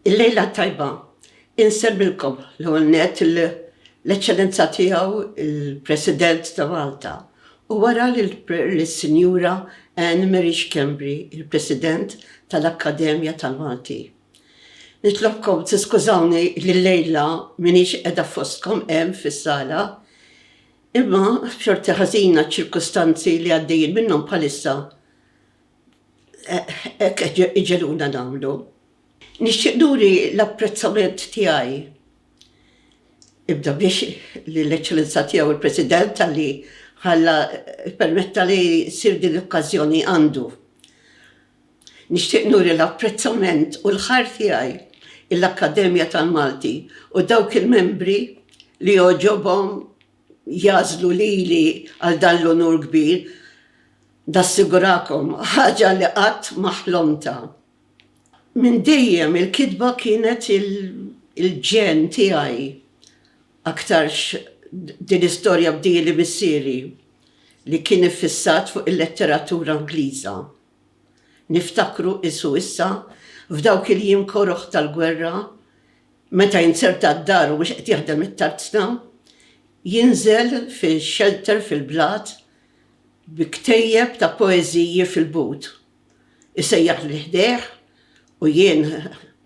Il-lejla t-tajba insemmilkom l-ewwel nett lill-Eċċellenza Tiegħu l-President ta' Malta u wara lis-Sinjura Anne Marie Schembri, il-President tal-Akkademja tal-Malti. Nitlobkom tiskużawni li llejla m'iniex qiegħda fostkom hemm fis-sala, imma b'xorti ħażina ċ-ċirkustanzi li għaddejjin minnhom bħalissa, hekk qed iġegħluna nagħmlu. Nixtieq nuri l-apprezzament tiegħi ibda biex lill-Eċċellenza Tiegħu l-President talli ħalla ppermetta li ssir din l-okkażjoni għandu. Nixtieq nuri l-apprezzament u l-ħajr tiegħi lill-Akkademja tal-Malti u dawk il-membri li jogħġobhom jagħżlu lili għal dan l-unur kbir, nassigurakom, ħaġa li qatt ma ħlomtha. Minn dejjem il-kitba kienet il-ġen tiegħi aktarx din istorja b'din li missieri li kien iffissat fuq il-letteratura Ingliża. Niftakru qisu issa f'dawk il-jiem koroh tal-gwerra Meta jinzerta d-dar u mhux qed jaħdem it-tarzna, jinżel fi xelter fil-blat bi ktejjeb ta' poeżiji fil-but. Isejjaħli ħdejh u jien,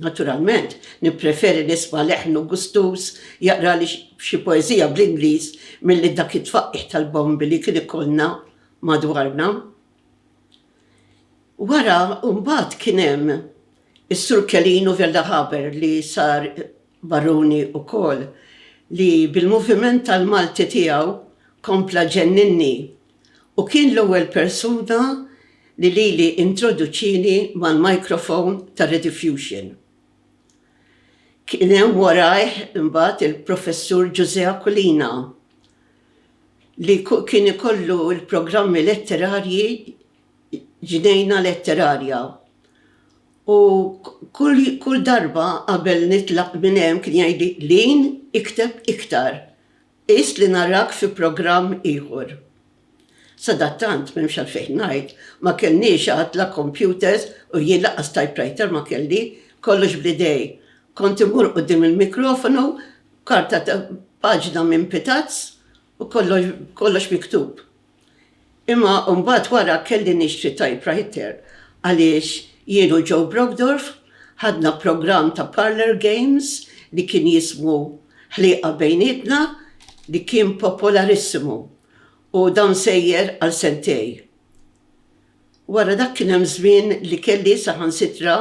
naturalment, nippreferi nisma' leħnu gustuż jaqrali xi poeżija bl-Ingliż milli dak it-tfaqqigħ tal-bombi li kien ikollna madwarna. Wara mbagħad kien hemm is-Sur Celino Veldahaber li sar Baruni wkoll li bil-moviment tal-Malti tiegħu kompla ġenninni u kien l-ewwel persuna li lili introduċieni mal-microphone tar-rediffusion. Kien hemm warajh mbagħad il-Professur Ġużè Aquilina li kien ikollu l-programmi letterarji Ġnejna Letterarja u kull darba qabel nitlaq minn hemm kien jgħidli, Lin, ikteb iktar, qis li narak fi programm ieħor. Sadattant, m'hemmx għalfejn ngħid, ma kellniex għad la kompjuters u jien lanqas typewriter ma kelli, kollox bl-idej. Kont immur quddiem il-mikrofonu, Karta ta' paġna minn pitazz u kollox miktub. Imma mbagħad wara kelli nixtri typewriter għaliex jien u Joe Brockdorf ħadna programm ta' parlour games li kien jismu Ħlieqa Bejnietna li kien popolarissimu u dan sejjer għal sentej. Wara dak kien hemm żmien li kelli saħansitra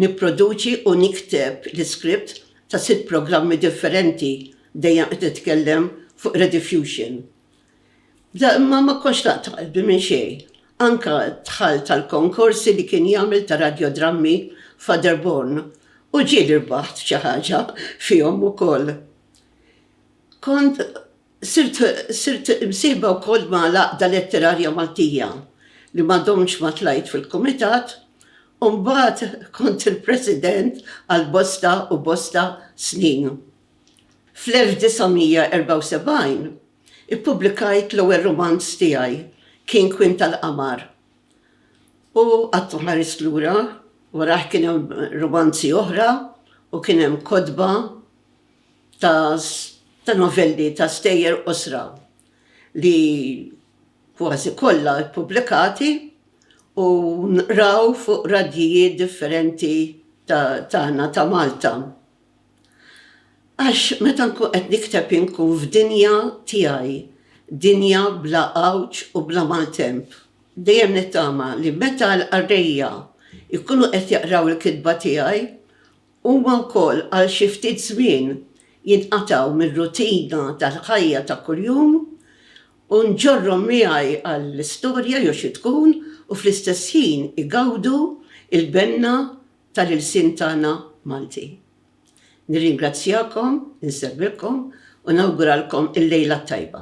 nipproduċi u nikteb l-iskript ta' sitt programmi differenti, dejjem qed nitkellem fuq Rediffusion. Bda imma ma kontx naqta' qalbi minn xejn. Anke dħalt għall-konkorsi li kien jagħmel ta' radjodrammi Fatherborn u ġieli rbaħt xi ħaġa fihom ukoll. Kont. Sirt imsieħba wkoll ma' l-Għaqda Letterarja Maltija, li ma domtx ma tlajt fil-Kumitat, u mbagħad kont il-President għal bosta u bosta snin. Fl-1974 ippubblikajt l-ewwel rumanz tiegħi, Kien Kwin tal-Qamar, u qatt ma ħarist lura, warajh kien hemm rumanzi oħra u kien hemm kotba ta' novelli ta' stejjer qosra li kważi kollha ppubblikati u nqraw fuq radjijiet differenti tagħna ta' Malta. Għax meta nkun qed nikteb inkun f'dinja tiegħi, dinja bla għawġ u bla maltemp. Dejjem nittama li meta l-qarrejja jkunu qed jaqraw il-kitba tiegħi, Huma wkoll għal xi ftit żmien jinqatgħu mir-rutina tal-ħajja ta' kuljum u nġorrhom miegħi għall-istorja jew xi tkun u fl-istess ħin igawdu l-benna tal-ilsien tagħna Malti. Nirringrazzjakom, insellmilkom u nawguralkom il-lejla t-tajba.